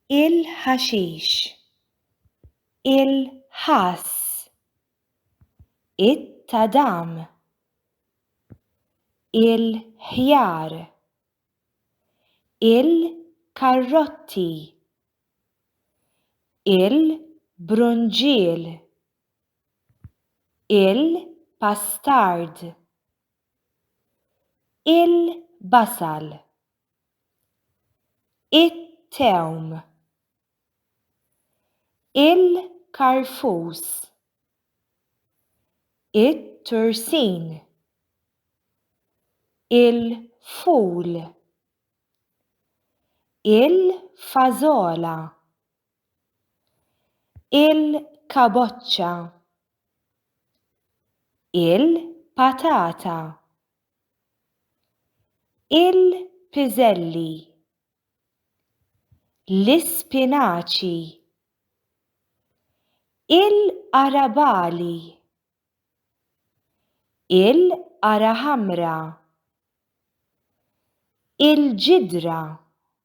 il-ħaxix, il-ħass, it-tadam, il-ħjar, il-karrotti, il-brunġiel, il-pastard. il-basal, it-tewm, il-karfus, it-tursin, il-ful, il-fażola. il-kaboċċa, il-patata, il-piżelli, l-ispinaċi, il-qarabagħli, il-qara ħamra, il-ġidra.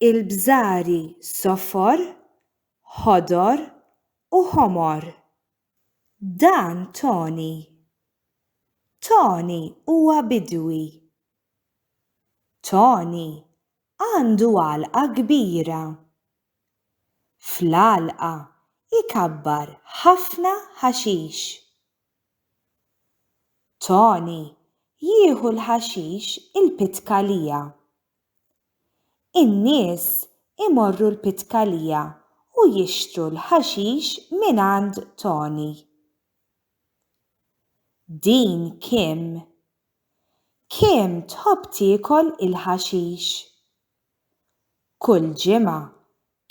Il-bżari sofor, ħodor u ħomor. Dan Toni. Toni huwa bidwi. Toni għandu għalqa kbira. Fl-għalqa jkabbar ħafna ħaxix. Toni jieħu l-ħaxix il-pitkalija. In-nies imorru l-Pitkalija u jixtru l-ħaxix mingħand Toni. Din Kim. Kim tħobb tiekol il-ħaxix. Kull ġimgħa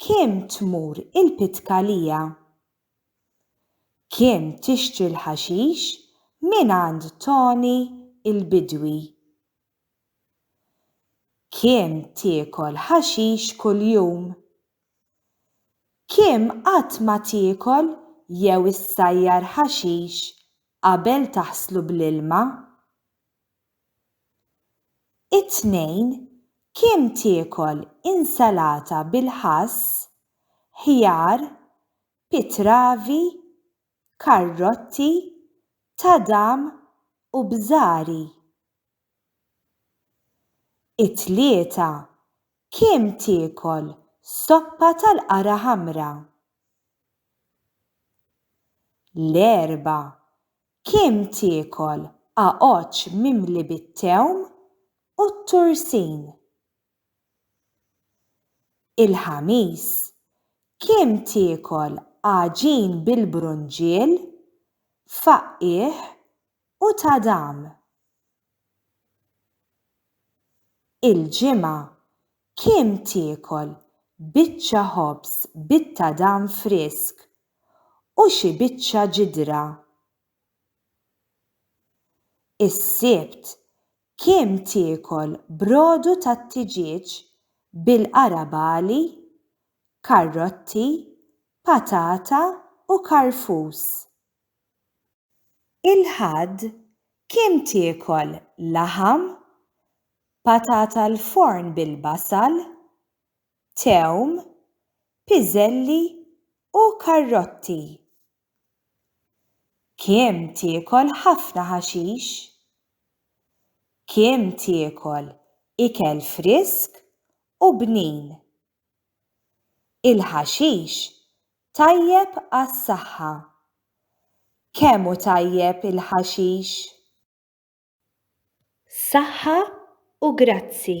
Kim tmur il-Pitkalija. Kim tixtri l-ħaxix mingħand Toni il-bidwi. Kim tiekol ħaxix kuljum? Kim qatt ma tiekol jew issajjar ħaxix qabel taħslu bl-ilma? It-Tnejn, Kim tiekol insalata bil-ħass, ħjar, pitravi, karrotti, tadam u bżari. It-tlieta kim tiekol soppa tal-qara ħamra. L-erba' kim tiekol għaġġ mimli bit-tewm u t-tursin. Il-Ħamis, Kemm tiekol għaġin bil-brunġiel, faqqigħ u tadam. Il-Ġimgħa, Kemm tiekol biċċa ħobż bit-tadam frisk u xi biċċa ġidra. Is-Sibt, Kemm tiekol brodu tat-tiġieġ bil-qarabagħli, karrotti, patata u karfus? Il-Ħadd kemm tiekol laħam, patata l-forn bil-basal, tewm, piżelli u karrotti? Kim tiekol ħafna ħaxix? Kim tiekol ikel frisk u bnin? Il-ħaxix tajjeb għas-saħħa. Kemm hu tajjeb il-ħaxix? Saħħa u grazzi.